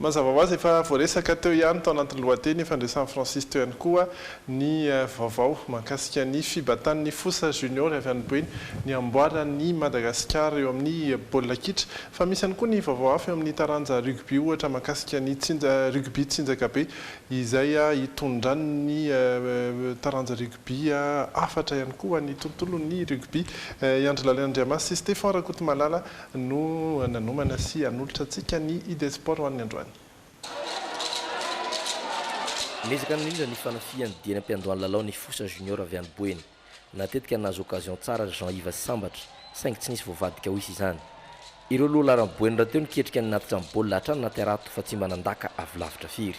Mazava ho azy, efa voaresaka teo ihany tao anatin'ny lohateny ifandraisan'i Francis teo ihany koa ny vaovao mahakasika ny fibantan'ny Fosa Junior avy any Buen ny hamboaran'i Madagasikara eo amin'ny baolina kitra. Fa misy ihany koa ny vaovao hafa eo amin'ny taranja rugby ohatra mahakasika ny rugby tsinjakabe izay hitondran'ny taranja rugby hafatra ihany koa ny tontolon'ny rugby i Andry Laliana Andriamasy sy Stephan Rakotomalala no nanomana sy hanolotra antsika ny Idée Sport ho an'ny androany. Niezaka nirindra ny fanafihany dieny am-piandohan'ny lalao ny Fosa Junior avy any Boeny. Natetika nahazo occasion tsara ry Jean Yves Sambatra saingy tsy nisy voavadika ho hisy izany. Ireo lohalaharan'i Boeny rahateo niketrika ny natitra ny baolina hatrany naterato fa tsy mba nandaka avy lavitra firy.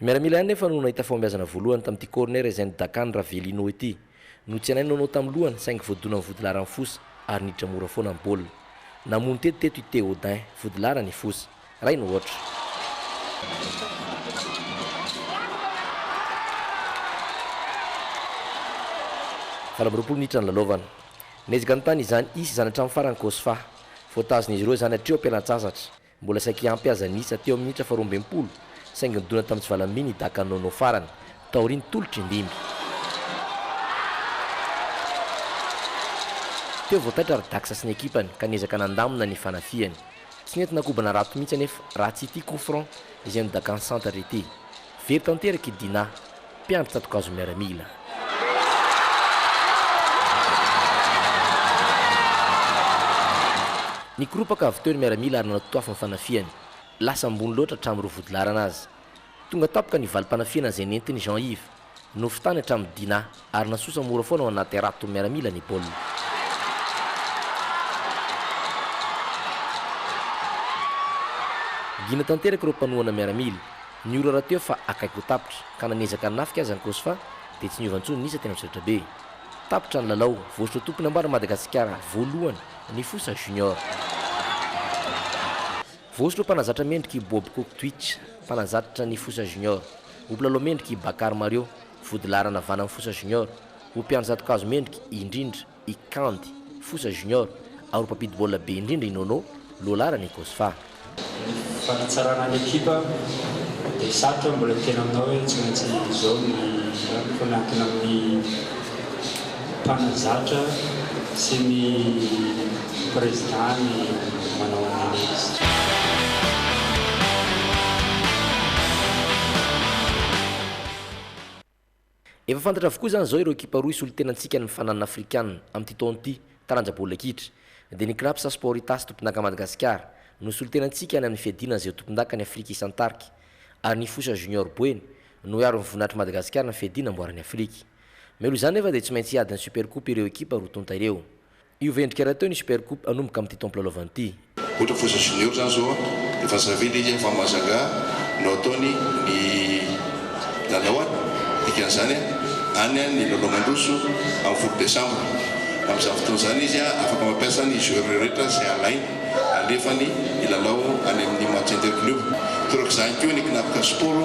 Ny miaramila ihany nefa no nahita fahombiazana voalohany tamin'ity corner ezain'i Dakan Ravelino ity. Notsianain'i Nono tamin'ny lohany saingy voadonan'i Vodilaran fosa ary niditra mora foana ny baolina. Namono teto teto i Théodin Vodilaran i Foza. Iray no aotra. Valo amby roapolo minitra nilalaovana. Niezaka nitàna izany Isy izany hatramin'ny farany Cosfa. Voatazin'izy ireo izany hatreo am-pialantsasatra. Mbola saiky ampy aza ny isa teo amin'ny minitra faharoa ambin'ny folo, saingy nidona tamin'ny tsy valam-by ny Dhaka Nono farany, taorian'ny tolotr'i Ndimby. Teo vao taitra ry Dax sy ny ekipany ka niezaka nandamina ny fanafihany. Tsy nentina kobana rato mihitsy anefa, raha tsy ity coup franc izay nodakàn'i Santatra ity. Very tanteraka i Dinah, mpiandry tsato-kazo miaramila. Nikoropaka avy teo ny miaramila ary nanatotoafo ny fanafihany. Lasa ambony loatra hatramin'ny roa vodilaharana aza. Tonga tampoka ny valim-panafihana izay nentin'i Jean Yves. Nofy tany hatramin'i Dinah. ary nasosa mora foana ao anaty haraton'ny miaramila ny baolina. Gina tanteraka ireo mpanohana miaramila. Ny ora rahateo fa akaiky ho tapitra, ka na niezaka hanafika aza ny Cosfa, dia tsy niova intsony ny isa teny amin'ny solaitrabe. Tapitra ny lalao, voasotra tompon'ambaran'i Madagasikara voalohany ny Fosa Junior. Voasotra ho mpanazatra mendrika i Bob Kok Twitch, mpanazatra ny Fosa Junior. Ho mpilalao mendrika i Bakary Mario, Vodilaharana Vana Fosa Junior, ho mpiandry zatokazo mendrika indrindra i Kandy Fosa Junior ary ho mpampidi baolina be indrindra i Nono, lohalaharan'ny Cosfa. Ny fanatsarana ny ekipa dia sarotra mbola hiteny aminao hoe tsy maintsy izao ny raha fa miankina amin'ny mpanazatra sy ny président ny manao analyse. Efa fantatra avokoa izany izao ireo ekipa roa hisolo tena antsika any fananana afrikana amin'ity taona ity, taranja baolina kitra. Dia ny Craps Sport Itasy tompondaka Madagasikara no hisolo tena antsika any amin'ny fiadiana an'izay ho tompondaka ny Afrika isan-tarika. Ary ny Fosa Junior Boeny no hiaro ny voninahitry Madagasikara ny fiadiana amboaran'ny Afrika. Mialoha izany nefa dia tsy maintsy hiady ny Super Coupe ireo ekipa roa tonta ireo. Io ve endrika rahateo ny Super Coupe hanomboka amin'ity taom pilalaovana ity? Ohatra foza junior zany zao an, efa zave le izy an fa mazangà no ataony ny lalao an, dikan'izany an any an ny lalao mandroso amin'ny folo desambra, amin'izany fotoana izany izy an afaka mampiasa ny joueur rehetra izay alainy alefany hilalao any amin'ny match inter club, torak'izany koa ny Knapka Sport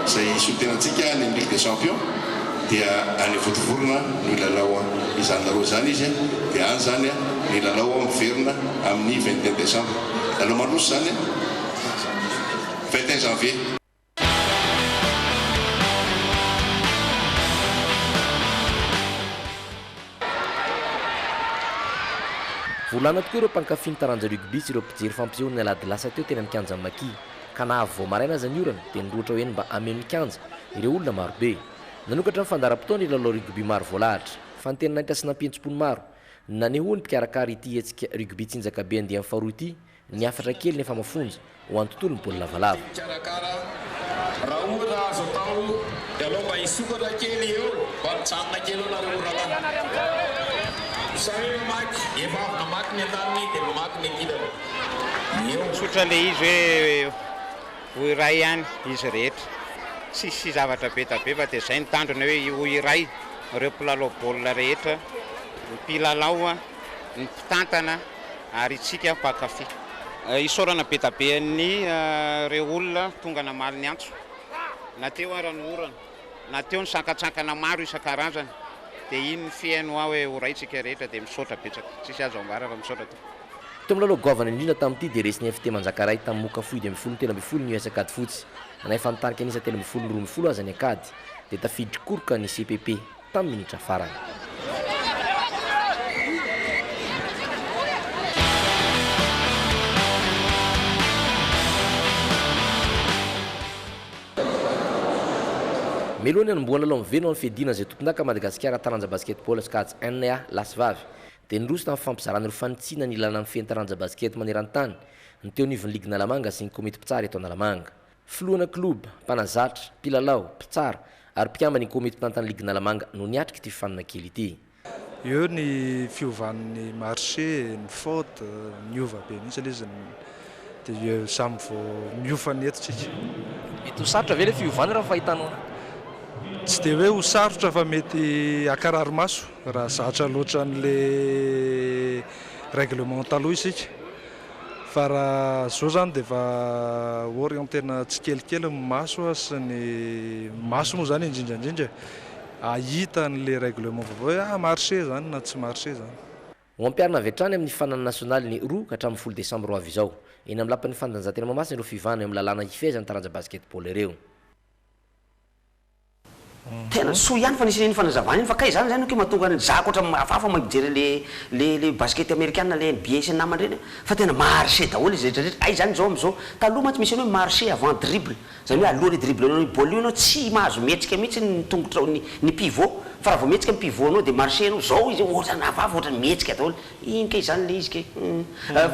izay hisolo tena antsika any amin'ny ligue des champions. dia any vontovorona no hilalao izany lalao izany izy dia any izany ny lalao miverina amin'ny vingt et un décembre, lalao mandroso izany vingt et un janvier. Volana tokoa ireo mpankafy ny taranja rugby sy ireo mpijery fampisehoan'ny alahady lasa teo teny amin'ny kianjan'ny Maki. ka na avy vao maraina aza ny orana dia nirohotra ho eny mba hameno ny kianja ireo olona marobe. Nanokatra ny fandaharam-potoana hilalao rugby maro voalahatra, fantenin'Ainta sy nampihetsi-po ny maro. Nanehoan'ny mpikarakara ity hetsika rugby tsinjakabe andiany faharoa ity ny hafatra kely nefa mafonja ho an'ny tontolon'ny baolina lavalava. Mpikarakara, raha ohatra azo atao dia alao mba hisokatra kely eo, mba mijanona kely eo nareo orana. Zareo namaky, efa avy namaky ny an-taniny dia mamaky ny an-kilany. eo. Tsotra le izy hoe ho iray ihany izy rehetra, tsisy zavatra be da be fa de zay ny tanjona hoe ho iray reo mpilalao baolina rehetra, ny mpilalao, ny mpitantana ary itsika mpankafy. Isaorana be da be an'ny reo olona tonga namaly ny antso na teo ara ny orana na teo ny sankatsankana maro isan-karazany de iny ny fiheno hoa hoe ho iray tsika rehetra de misaotra betsaka, tsisy azo ambara fa misaotra. Teo amin'ny lalao goavana indrindra tamin'ity dia resin'ny FT Manjakaray tamin'ny Moka Fohy dimy ambin'ny folo no telo ambin'ny folo ny US Ankadifotsy. Na efa nitarika an'isa telo ambin'ny folo ny roa ambin'ny folo aza ny Ankady dia tafidin-koroka ny CPP tamin'ny minitra farany. Mialohan'ny hanombohan'ny lalao miverina ho an'ny fiadiana izay tompondaka Madagasikara Taranja Basketball Ankady NA, lahy sy vavy, dia niroso tamin'ny fifampizarana ireo fanitsiana nilàna ny fen'ny taranja basikety maneran-tany, ny teo anivon'ny ligy Analamanga sy ny komity mpitsara eto Analamanga. Filohana kiloba, mpanazatra, mpilalao, mpitsara ary mpikamban'ny komity mpitantan'ny ligy Analamanga no niatrika ity fifaninana kely ity. Eo ny fiovan'ny marché, ny faute, niova be mihitsy ilay izy, dia samy vao mihofa ny eto tsika. Mety ho sarotra ve ilay fiovana raha ny fahitanao an'azy? Tsy dia hoe ho sarotra fa mety hankarary maso. Raha zatra loatra an'le règlement taloha isika fa raha zao zany de efa orientena tsikelikely ny maso sy ny maso moa zany indrindra indrindra ahita an'le règlement vaovao hoe ah marche zany na tsy marche zany. Ho ampiharina avy hatrany amin'ny fanana nasionaly ny roa ka hatramin'ny folo desambra ho avy izao. Eny amin'ny lapan'ny fanatanjahantena Mahamasina ireo fivahana eo amin'ny lalàna hifehezan'ny taranja basketball ireo. Tena soa ihany fa nisy iny fanazavana iny fa kay zany zay no ke mahatonga an'i Zako ohatra hafahafa mahay mijery le le le baskety amerikana le nba sy ny namany reny fa tena marche daholo izy rehetra rehetra hay zany zao amzao taloha mantsy misy an'io hoe marche avant dribble zany hoe alohan'ny hidriblenao io baolina io enao tsy mahazo mihetsika mihitsy ny tongotrao ny ny pivot fa raha vao mihetsika ny pivot nao de marche enao zao izy ohatra hafahafa ohatra mihetsika daholo Iny kay zany le izy kay humm.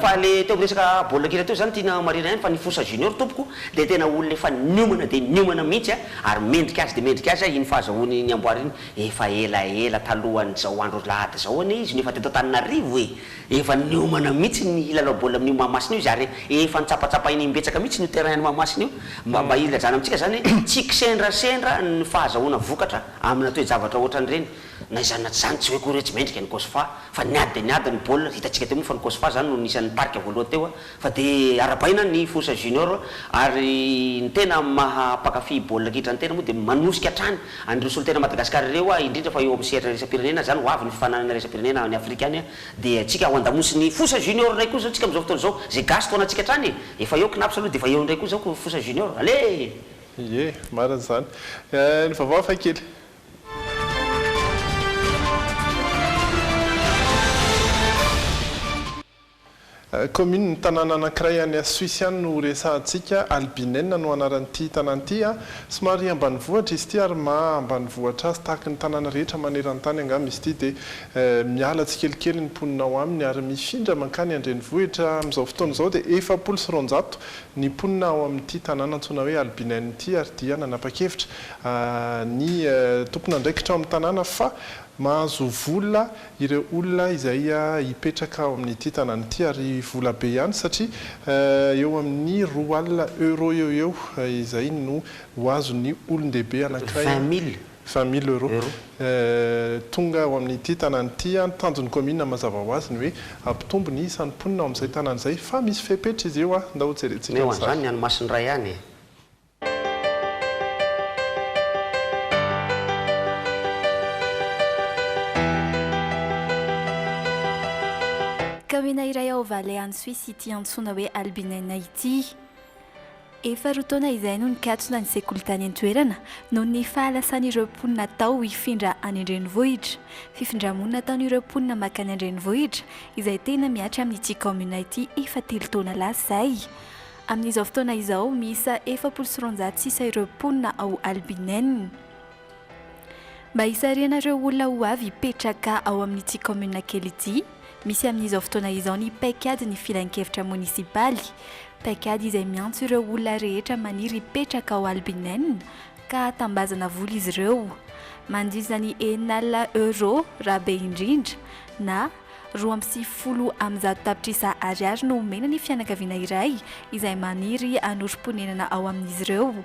Fa le teo am resaka baolina kitra teo zany tiana marihina ihany fa ny Fosa Junior tompoko dia tena olona efa niomana dia niomana mihitsy a, ary mendrika azy dia mendrika azy aho iny fahazahoany ny amboara iny efa ela ela talohan'izao andro alahady izao anie izy no efa teto Antananarivo e! Efa niomana mihitsy ny hilalao baolina amin'io Mahamasina io izy ary efa notsapatsapahina imbetsaka mihitsy io terrain an'i Mahamasina io mba mba hilajana amintsika izany hoe tsy kisendrasendra ny fahazahoana vokatra amina toe-javatra ohatran'ireny Na izany na tsy izany, tsy hoe koa re tsy mendrika ny Kosova, fa niady dia niady ny baolina, hitantsika teo moa fa ny Kosova izany no nisan'ny nitarika voalohany teo, fa dia arabaina ny Force Junior, ary ny tena maha mpankafy baolina kitra ny tena moa dia manosika hatrany an'ireo solontena Madagascar ireo aho indrindra fa eo amin'ny sehatra iraisam-pirenena izany, ho avy ny fifaninanana iraisam-pirenena any Afrika any dia tsika ho andamosin'ny Force Junior indray koa izao tsika amin'izao fotoana izao, izay gasy tao anatintsika hatrany e! efa eo Cnaps aloha dia efa eo indray koa izao Force Junior, allez! Ie, marina izany. Ny vaovao hafakely. Kaominin'ny tanàna anankiray any Suisse any no horesahantsika. Albinena no anaran'ity tanàna ity. Somary ambanivohitra izy ity ary maha ambanivohitra azy tahaka ny tanàna rehetra maneran-tany angamba izy ity dia miala tsikelikely ny mponina ao aminy ary mifindra mankany an-drenivohitra. Amin'izao fotoana izao dia efapolo sy roanjato ny mponina ao amin'ity tanàna antsoina hoe Albinena ity ary dia nanapa-kevitra ny tompon'andraikitra ao amin'ny tanàna fa mahazo vola ireo olona izay hipetraka ao amin'ity tanàna ity ary vola be ihany satria eo amin'ny roa alina euros eo eo izay no ho azon'ny olon-dehibe anankiray, vingt mille euros, tonga ao amin'ity tanàna ity. Ny tanjon'ny kaominina mazava ho azy ny hoe hampitombo ny isan'ny mponina ao amin'izay tanàna izay fa misy fepetra izy io, ndao jerentsika ny sary. Omeo an'izany ny any Masindray any e! Kaoena iray ao Vale any Suisse ity antsoina hoe Albinena ity. Efa roa taona izay no nikatona ny sekoly tany an-toerana noho ny fahalasan'ireo mponina tao hifindra any an-drenivohitra. Fifindra-monina ataon'ireo mponina mankany an-drenivohitra izay tena mihatra amin'ity kaominina ity efa telo taona lasa izay. Amin'izao fotoana izao, miisa efapolo sy roanjato sisa ireo mponina ao Albinene. Mba hisarihana ireo olona ho avy hipetraka ao amin'ity kaominina kely ity, misy amin'izao fotoana izao ny paikadin'ny filankevitra monisipaly, paikady izay miantso ireo olona rehetra maniry hipetraka ao Albinene ka hatambazana vola izy ireo, mandritra ny enina alina euros raha be indrindra, na. Roa amby sivifolo amin'ny zato tapitrisa ariary no omena ny fianakaviana iray izay maniry hanorim-ponenana ao amin'izy ireo.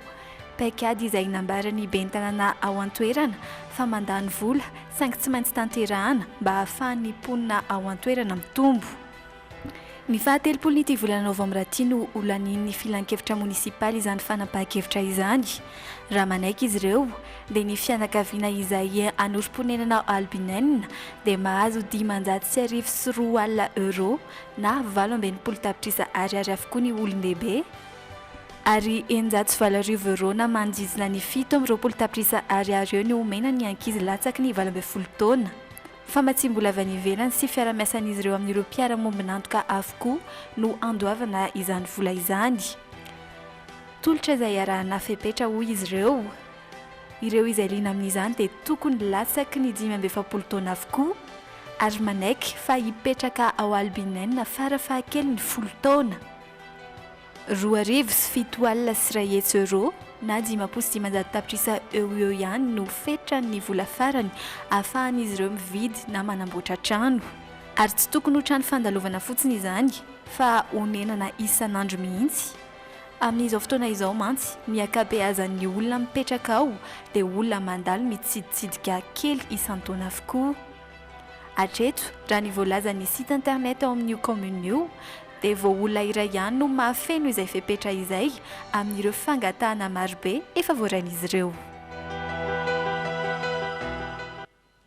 Paikady izay nambaran'ny ben'ny tanàna ao an-toerana fa mandany vola saingy tsy maintsy tanterahana mba hahafahan'ny mponina ao an-toerana mitombo. Ny fahatelopolon'ity volana novambra ity no ho lanian'ny filankevitra monisipaly izany fanapahan-kevitra izany raha manaiky izy ireo dia ny fianakaviana izay anorim-ponenana Albinenina dia mahazo dimanjato sy arivo sy roa alina euros na valo amby enimpolo tapitrisa ariary avokoa ny olon-dehibe ary eninjato sy valo arivo euros na manodidina ny fito amby roapolo tapitrisa ariary eo no omena ny ankizy latsaky ny valo ambin'ny folo taona. Famatsiam-bola avy any ivelany sy fiara-miasan'izy ireo amin'ireo mpiara-mombon'antoka avokoa no andoavana izany vola izany. Tolotra izay iarahana fepetra hoy izy ireo. Ireo izay liana amin'izany dia tokony latsaky ny dimy amby efapolo taona avokoa ary manaiky fa hipetraka ao Albineina fara fahakeliny folo taona. Roa arivo sy fito alina sy iray hetsy euro na dimampolo sy dimanjato tapitrisa eo ho eo ihany no fetran'ny vola farany ahafahan'izy ireo mividy na manamboatra trano. Ary tsy tokony ho trano fandalovana fotsiny izany fa honenana isan'andro mihitsy. Amin'izao fotoana izao mantsy, ny ankabeazan'ny olona mipetraka ao dia olona mandalo mitsiditsidika kely isan-taona avokoa. Hatreto, raha ny voalazan'ny site internet ao amin'io kaominina io, dia vao olona iray ihany no mahafeno izay fepetra izay amin'ireo fangatahana marobe efa voarain'izy ireo.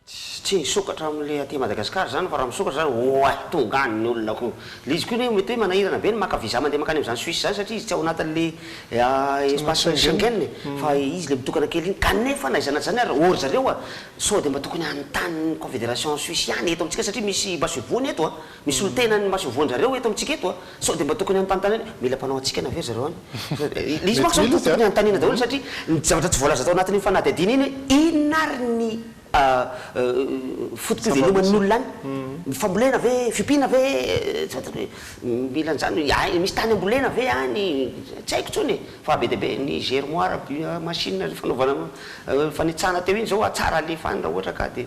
Tsy nisokatra amin'ilay aty Madagascar izany fa raha misokatra izany oay tonga any ny olona ko. Ilay izy koa anie mety hoe manahirana be ny maka visa mandeha mankany amin'izany Suisse izany satria izy tsy ao anatin'ilay espace Schengen e. Fa izy ilay mitokana kely iny. Kanefa na izany na tsy izany ary ô ry zareo a! sao dia mba tokony hanontany ny Confederation Suisse ihany eto amintsika satria misy masoivohony eto a! Misy miteny an'i Masoivoho-ndrareo eto amintsika eto a! Sao dia mba tokony hanontantany hoe mila mpanao hatsikana ve ry zareo any? Ilay izy manko izany tokony hanontaniana daholo satria ny zavatra tsy voalaza tao anatin'iny fanadihadiana iny hoe inona ary ny foto-piveloman'ny olona any? Ny fambolena ve? Fiompiana ve? Tsy fantatro hoe mila an'izany hoe misy tany ambolena ve any? Tsy haiko intsony e! Fa be dia be ny germoire, machine fanaovana fanitsana teo iny izao hatsara alefa any raha ohatra ka dia.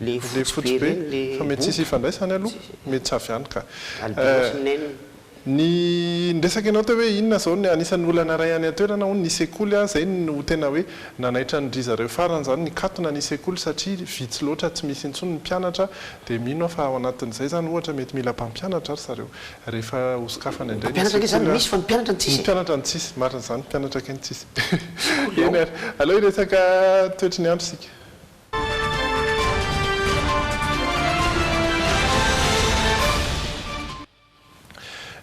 Le fotsy be fa mety tsisy ifandraisany aloha, mety tsy avy any ka. Ny niresaka ianao teo hoe inona zao ny anisan'ny olana iray any an-toerana hono ny sekoly a, zay no tena hoe nanaitra ny drizareo farany zany nikatona ny sekoly satria vitsy loatra tsy misy intsony ny mpianatra dia mino aho fa ao anatin'izay zany ohatra mety mila mpampianatra ry zareo rehefa ho sokafana indray ny sekoly a. Ny mpianatra no tsisy, marina zany, ny mpianatra kay no tsisy. Eny ary, aleo hiresaka toetry ny andro isika.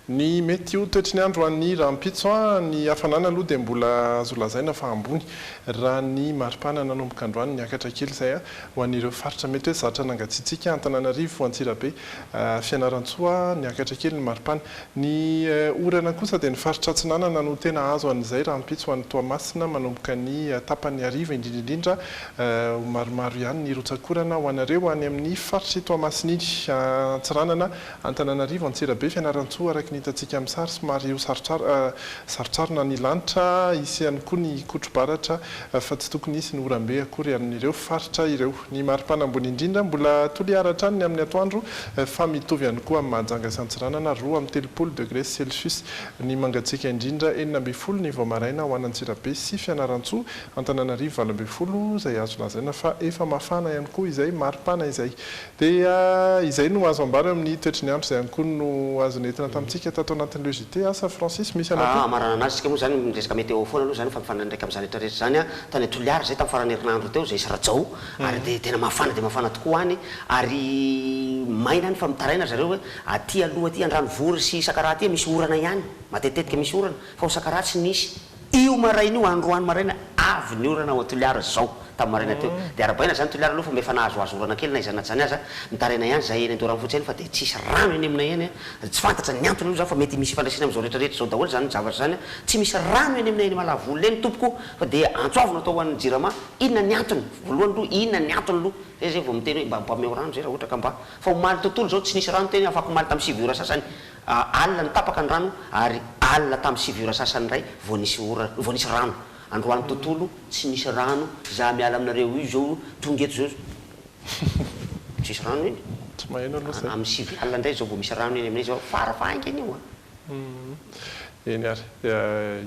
Ny mety ho toetry ny andro any rahampitso, Ny hafanana aloha dia mbola azo lazaina fa ambony raha ny maripana nanomboka androany niakatra kely izay ho an'ireo faritra mety hoe zatra nangatsiatsiaka, Antananarivo, Antsirabe, Fianarantsoa, niakatra kely ny maripana. Ny orana kosa dia ny faritra atsinanana no tena azo an'izay rahampitso ho an'i Toamasina manomboka ny tapany hariva indrindra indrindra Ho maromaro ihany ny rotsak'orana ho anareo any amin'ny faritr'i Toamasina iny. Antsiranana, Antananarivo, Antsirabe, Fianarantsoa, araka ny hitantsika amin'ny sary, somary ho sarotsarona ny lanitra. Hisy ihany koa ny kotro-baratra fa tsy tokony hisy ny oram-be akory amin'ireo faritra ireo. Ny maripana ambony indrindra mbola toliara hatrany ny amin'ny atoandro fa mitovy ihany koa amin'i Mahajanga sy Antsiranana, roa amby telopolo degres celsius. Ny mangatsiaka indrindra, enina ambin'ny folo ny vao maraina ho an'Antsirabe sy Fianarantsoa, Antananarivo valo ambin'ny folo izay azo lazaina fa efa mafana ihany koa izay maripana izay. Dia izay no azo ambara eo amin'ny toetry ny andro izay ihany koa no azo nentina tamintsika tato anatin'ireo JT asa Francis misy anao koa. Hamaranana azy isika moa izany miresaka météo foana aloha izany fa mifandraika amin'izany rehetra rehetra izany an. Tany Toliara izay tamin'ny faran'ny herinandro teo izay sy Rajao ary dia tena mafana dia mafana tokoa any ary maina any fa mitaraina ry zareo hoe aty aloha aty Andranovory sy Sakaraha aty misy orana ihany, matetitetika misy orana fa ao Sakaraha tsy nisy. Io maraina io, androany maraina, avy ny orana ao Toliara zao, tamin'ny maraina teo. Dia arabaina zany Toliara aloha fa mba efa nahazoazo orana kely na izany na izany aza. Mitaraina ihany zahay eny Andoharanofotsy eny fa dia tsisy rano eny aminay eny. Tsy fantatra ny antony aloha zany fa mety misy ifandraisany amin'izao rehetra rehetra izao daholo izany zavatra izany. Tsy misy rano eny aminay eny Malavolona eny tompoko o! Fa dia antso avy no atao ho an'ny Jirama, inona ny antony? Voalohany aloha inona ny antony aloha? Zay izay vao miteny hoe mba mba omeo rano izay raha ohatra ka mba. Fa omaly tontolo izao tsy nisy rano teny afakomaly tamin'ny sivy ora sasany Alina no tapaka ny rano ary alina tamin'ny sivy ora sasany indray vao nisy ora, vao nisy rano. Androany tontolo tsy misy rano, za miala aminareo io zao, tonga eto zao, tsisy rano eny, amin'ny sivy alina indray zao vao misy rano eny aminay zao, fara fahaingana io an. Eny ary, dia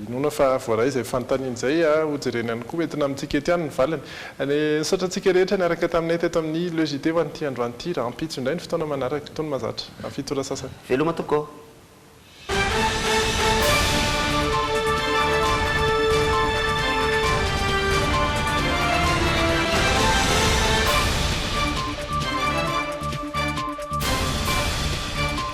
inoana fa voaray izay fanontaniana izay, ho jerena ihany koa entina amintsika ety ihany ny valiny. Anie, misaotra antsika rehetra niaraka taminay teto amin'ny Le JT ho an'ity androany ity. Rahampitso indray ny fotoana manaraka, tony mahazatra. Amin'ny fito ora sasany. Veloma tokoa.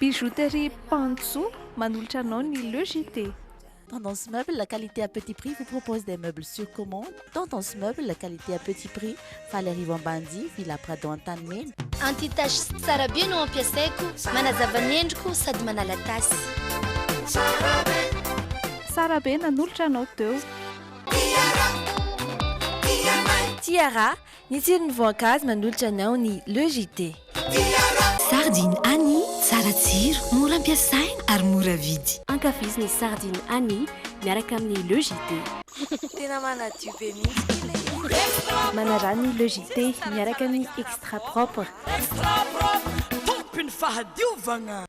Bijouterie Panjo manolotra anao ny Le JT. Tendance Meubles, qualité à petit prix, vous propose des meubles sur commande. Tendance Meubles, qualité à petit prix, Faly Arivo Ambanidia, Villa Prado Antanimena. Anti-tache sy tsara be no ampiasaiko, manazava ny endriko sady manala tasy. Tsara be nanolotra anao teo. Tiara, ny tsiron'ny voankazo manolotra anao ny Le JT. Sardine Annie, tsara tsiro, mora ampiasaina ary mora vidy. Ankafizo ny Sardine Annie miaraka amin'ny Le JT. Tena manadio be mihitsy kila izy. Manarano ny Le JT miaraka amin'ny Extra Propre. Extra Propre, tompy ny fahadiovagna!